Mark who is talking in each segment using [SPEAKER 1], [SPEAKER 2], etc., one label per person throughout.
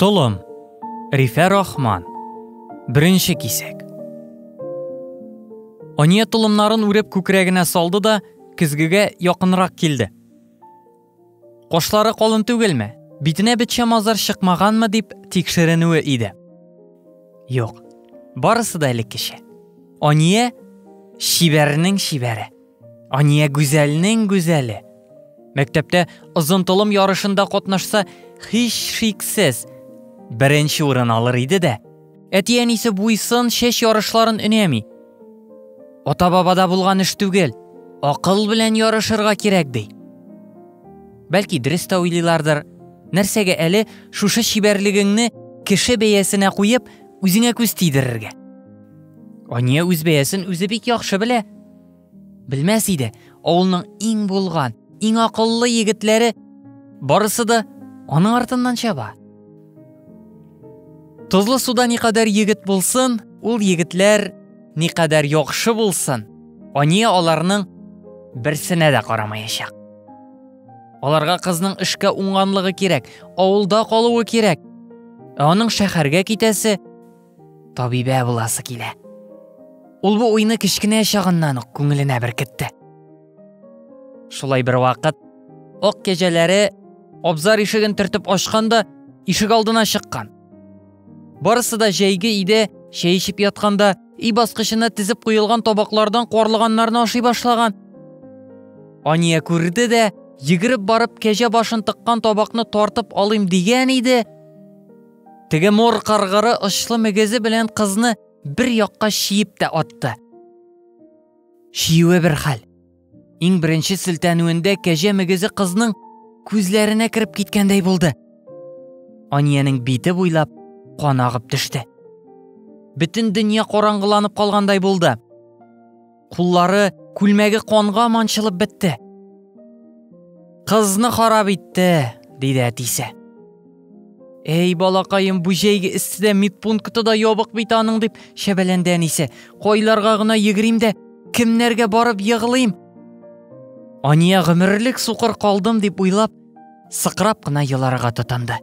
[SPEAKER 1] Толым. Рифә Рахман. Беренче кисәк. Ания толымнарын үреп күкрәгенә салды да көзгегә якынрак килде. Кошлары калын түгелме? Битенә бетчә мазар чыкмаганмы дип тикшеренүе иде. Юк. Барысы да элеккечә. Ания чибәрнең чибәре. Ания гүзәлнең гүзәле. Мәктәптә озын толым ярышында катнашса, һич шиксез беренче урын алыр иде дә. Әти-әнисе буйсын чәч ярышларын өнәми. Ата-бабада булган эш түгел, акыл белән ярышырга кирәк ди. Бәлки дөрес тә уйлыйлардыр. Нәрсәгә әле шушы чибәрлегеңне кеше бәясенә куеп, үзеңә күз тидерергә? Ания үз бәясен үзе бик яхшы белә. Белмәс иде, авылның иң булган, иң акыллы егетләре барысы да аның артыннан чаба. Тозлы суда никадәр егет булсын, ул егетләр никадәр яхшы булсын, Ания аларның берсенә дә карамаячак. Аларга кызның эшкә уңганлыгы кирәк, авылда калуы кирәк. Ә аның шәһәргә китәсе, табибә буласы килә. Ул бу уйны кечкенә чагыннан ук күңеленә беркетте. Шулай бер вакыт ак кәҗәләре абзар ишеген төртеп ачканда ишек алдына чыккан. Барысы да җәйге иде, чәй эчеп ятканда өй баскычына тезеп куелган табаклардан куарлыганнарны ашый башлаган. Ания күрде дә, йөгереп барып кәҗә башын тыккан табакны тартып алыйм дигән иде, Теге мор каргыры очлы мөгезе белән кызны бер якка чиеп тә атты. Чиюе бер хәл. Иң беренче селтәнүендә кәҗә мөгезе кызның күзләренә кереп киткәндәй булды. Аниянең бите буйлап кан агып төште. Бөтен дөнья караңгыланып калгандай булды. Куллары, күлмәге канга манчылып бетте. Кызны харап итте, диде әтисе. Эй, балакаем, бу җәйге эсседә медпункты да ябык бит аның, дип шәбәләнде әнисе. Кайларга гына йөгерим дә, кемнәргә барып егылыйм? Ания гомерлек сукыр калдым дип уйлап, сыкрап кына еларга тотынды.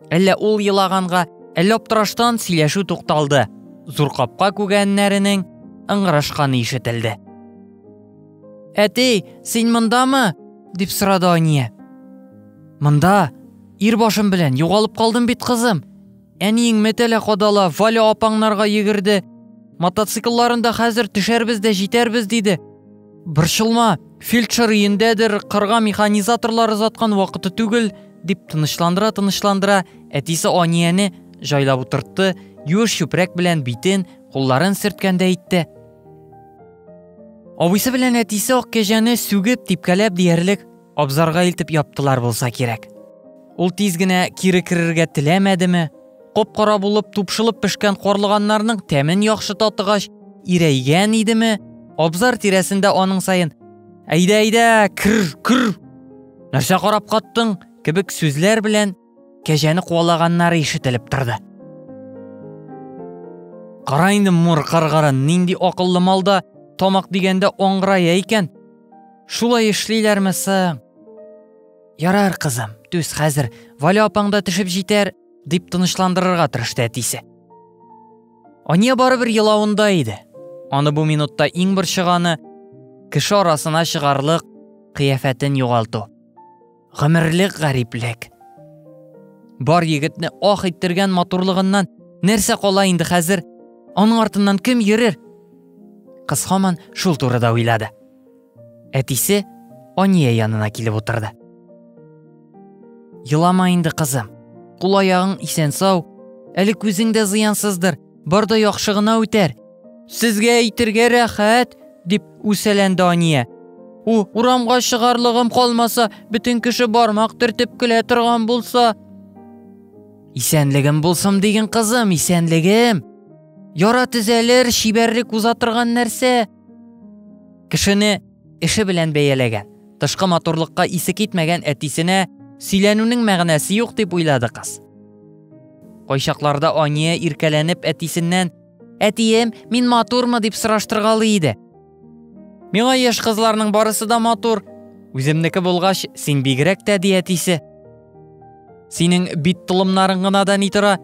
[SPEAKER 1] Әллә ул елаганга, әллә аптыраштан сөйләшү тукталды. Зур капка күгәннәренең ыңгырашканы ишетелде. Әти, син мондамы? дип сорады Ания. Монда, ир башым белән, югалып калдым бит, кызым, Әниең мәтәлә кадала, Валя апаңнарга йөгерде. Мотоциклларында хәзер төшәрбез дә җитәрбез, диде. Борчылма, фельдшер өендәдер, кырга механизаторлар озаткан вакыты түгел, дип тынычландыра-тынычландыра, әтисе Анияне җайлап утыртты, юеш чүпрәк белән битен, кулларын сөрткәндәй итте. Абыйсы белән әтисе ак кәҗәне сүгеп, типкәләп диярлек Абзарга илтеп яптылар булса кирәк. Ул тиз генә кире керергә теләмәдеме? Коп-кара булып тупшылып пешкән карлыганнарның тәмен яхшы татыгач, ирәйгән идеме? Абзар тирәсендә аның саен «Әйдә, әйдә, кер, кер!» Нәрсә карап каттың? кебек сүзләр белән кәҗәне куалаганнары ишетелеп торды. Кара инде мур каргарын нинди акыллы малда тамак дигәндә аңгырая икән. Шулай эшлиләрме соң? Ярар, кызым, түз хәзер, Валя апаң да төшеп җитәр, дип тынычландырырга тырышты әтисе. Ания барыбер елавында иде. Аны бу минутта иң борчыганы кеше арасына чыгарлык кыяфәтен югалту. Гомерлек гариплек. Бар егетне ах иттергән матурлыгыннан нәрсә кала инде хәзер? Аның артыннан кем йөрер? Кыз хаман шул турыда уйлады. Әтисе Ания янына килеп утырды. Елама инде, кызым. Кул аягың исән-сау, әле күзең дә зыянсыздыр. Бар да яхшы гына үтәр. Сезгә әйтергә рәхәт, дип үсәләнде Ания. У, урамга чыгарлыгым калмаса, бөтен кеше бармак төртеп көлә торган булса. Исәнлегем булсын диген кызым, исәнлегем. Яра төзәлер, чибәрлек уза торган нәрсә. Кешене Эше белән бәяләгән. Тышкы матурлыкка исе китмәгән әтисенә сөйләнүнең мәгънәсе юк дип уйлады кыз. Кайчакларда Ания иркәләнеп әтисеннән Әтием, мин матурмы дип сораштыргалый иде. Миңа яшь кызларның барысы да матур. Үземнеке булгач, син бигрәк тә ди әтисе. Синең бит толымнарың гына да ни тора?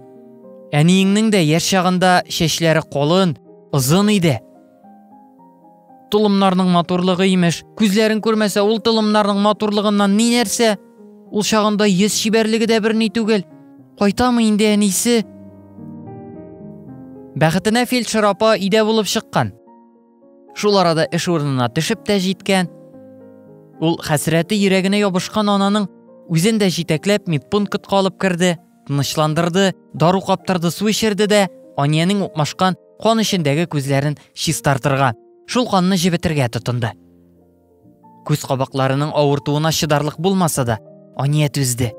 [SPEAKER 1] Әниеңнең дә яшь чагында чәчләре колын, озын иде. Толымнарның матурлыгы имеш. Күзләрең күрмәсә, ул толымнарның матурлыгыннан ни нәрсә? Ул чагында йөз чибәрлеге дә берни түгел. Кайтамы инде әнисе? Бәхетенә фельдшер апа өйдә булып чыккан. Шул арада эш урынына төшеп тә җиткән. Ул хәсрәте йөрәгенә ябышкан ананың үзен дә җитәкләп медпунктка алып керде. тынычландырды, дару каптырды, су эчерде дә, Аниянең укмашкан кан эчендәге күзләрен чистартырга, шул канны җебетергә тотынды. Күз кабакларының авыртуына чыдарлык булмаса да, Ания түзде.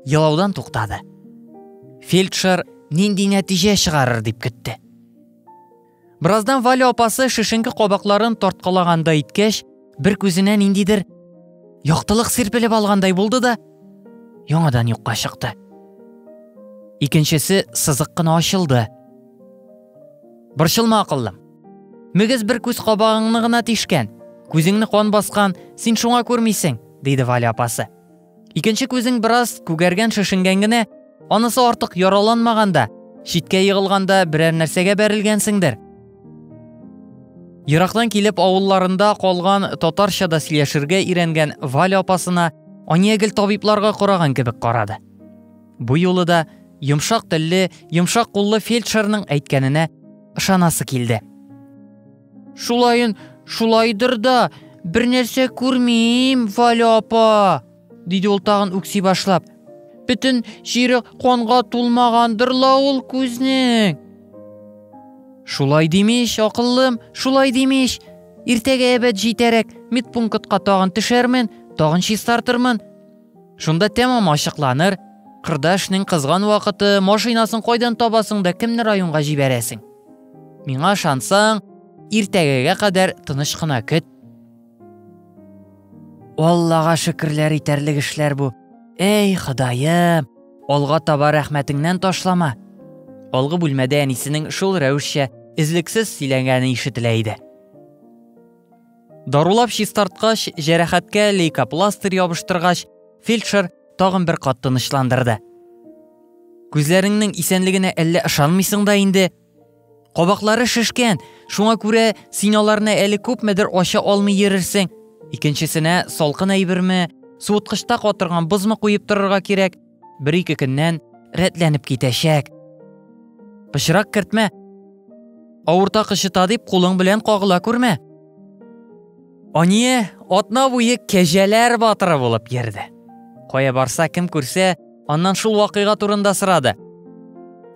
[SPEAKER 1] Елаудан туктады. Фельдшер нинди нәтиҗә чыгарыр дип көтте. Бераздан Валя апасы шешенке кабакларын тарткалаганда иткәч, бер күзенә ниндидер яктылык сирпелеп алгандай булды да, яңадан юкка чыкты. Икенчесе сызык кына ачылды. Борчылма акыллым. Мөгез бер күз кабагыңны гына тишкән, күзеңне кан баскан, син шуңа күрмисең, диде Валя апасы. Икенче күзең бераз күгәргән шешенгән генә, анысы артык яраланмаганда, читкә егылганда берәр нәрсәгә бәрелгәнсеңдер. Ерактан килеп авылларында калган татарча да сөйләшергә өйрәнгән Валя апасына Ания гел табибларга караган кебек карады. Бу юлы да йомшак телле, йомшак куллы фельдшерның әйткәненә ышанасы килде. Шулайын, шулайдыр да, бер нәрсә күрмим, Валя апа, диде ул тагын үкси башлап. Бөтен җире канга тулмагандыр ла ул күзнең. Шулай димеш, акыллым, шулай димеш. Иртәгә әбәт җитәрәк, медпунктка тагын төшәрмен, тагын чистартырмын. Шунда тәмам ачыкланыр. Кырдашның кызган вакыты, машинасын кайдан табасың да кемне районга җибәрәсең? Миңа ышансаң, иртәгәгә кадәр тыныч кына көт. Аллага шөкерләр итәрлек эшләр бу. Эй, Ходаем, алга таба рәхмәтеңнән ташлама. Алгы бүлмәдә әнисенең шул рәвешчә эзлексез сөйләгәне ишетелә иде. Дарулап чистарткач, җәрәхәткә лейкопластырь ябыштыргач, фельдшер тагын бер кат тынычландырды. Күзләреңнең исәнлегенә әллә ышанмыйсың да инде? Кабаклары шешкән, шуңа күрә син аларны әле күпмедер ача алмый йөрерсең. Икенчесенә салкын әйберме, суыткычта катырган бозмы куеп торырга кирәк. Бер-ике көннән рәтләнеп китәчәк. Пычрак кертмә. Авырта кычыта дип кулың белән кагыла күрмә. Ание атна буе кәҗәләр батыры булып йөрде. Кая барса, кем күрсә, аннан шул вакыйга турында сорады.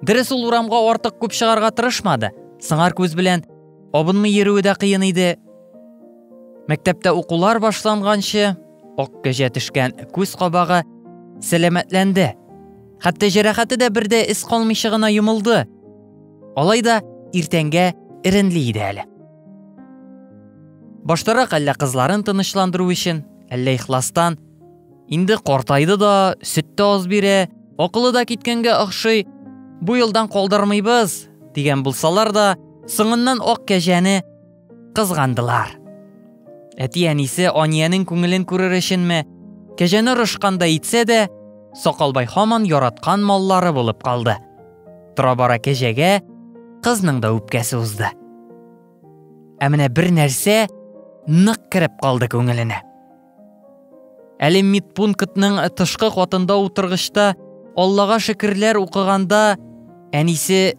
[SPEAKER 1] Дөрес ул урамга артык күп чыгарга тырышмады. Сыңар күз белән абынмый йөрүе дә кыен иде. Мәктәптә укулар башланганчы, ак кәҗә төшкән күз кабагы сәламәтләнде. Хәтта җәрәхәте дә бердә эз калмыйча гына йомылды. Алай да иртәнгә эренли иде әле. Баштарак әллә кызларын тынычландыру өчен, әллә ихластан. Инде картайды да, сөт тә аз бирә, акылы да киткәнгә охшый. Бу елдан калдырмыйбыз, дигән булсалар да, соңыннан ак кәҗәне кызгандылар. Әти-әнисе Аниянең күңелен күрер өченме, кәҗәне рышканда итсә дә, Сакалбай хаман яраткан маллары булып калды. Тора-бара кәҗәгә кызның да үпкәсе узды. Ә менә бер нәрсә нык кереп калды күңеленә. Әле медпунктның тышкы катында утыргычта Аллага шөкерләр укыганда әнисе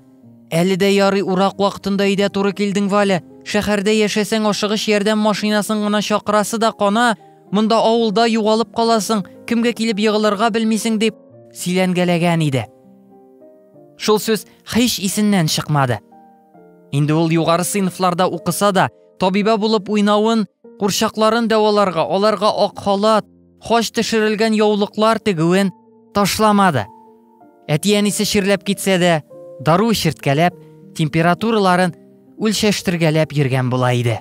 [SPEAKER 1] Әле дә ярый урак вакытында өйдә туры килдең, Валя. Шәһәрдә яшәсәң, ашыгыч ярдәм машинасын гына чакырасы да кана. Монда авылда югалып каласың, кемгә килеп егылырга белмисең, дип сөйләнгәләгән иде. Шул сүз һич исеннән чыкмады. Инде ул югары сыйныфларда укыса да, табиба булып уйнавын, курчакларын дәваларга, аларга ак халат, хач төшерелгән яулыклар тегүен ташламады. Әти-әнисе чирләп китсә дә, дару чирткәләп, температураларын үлчәштергәләп йөргән була иде.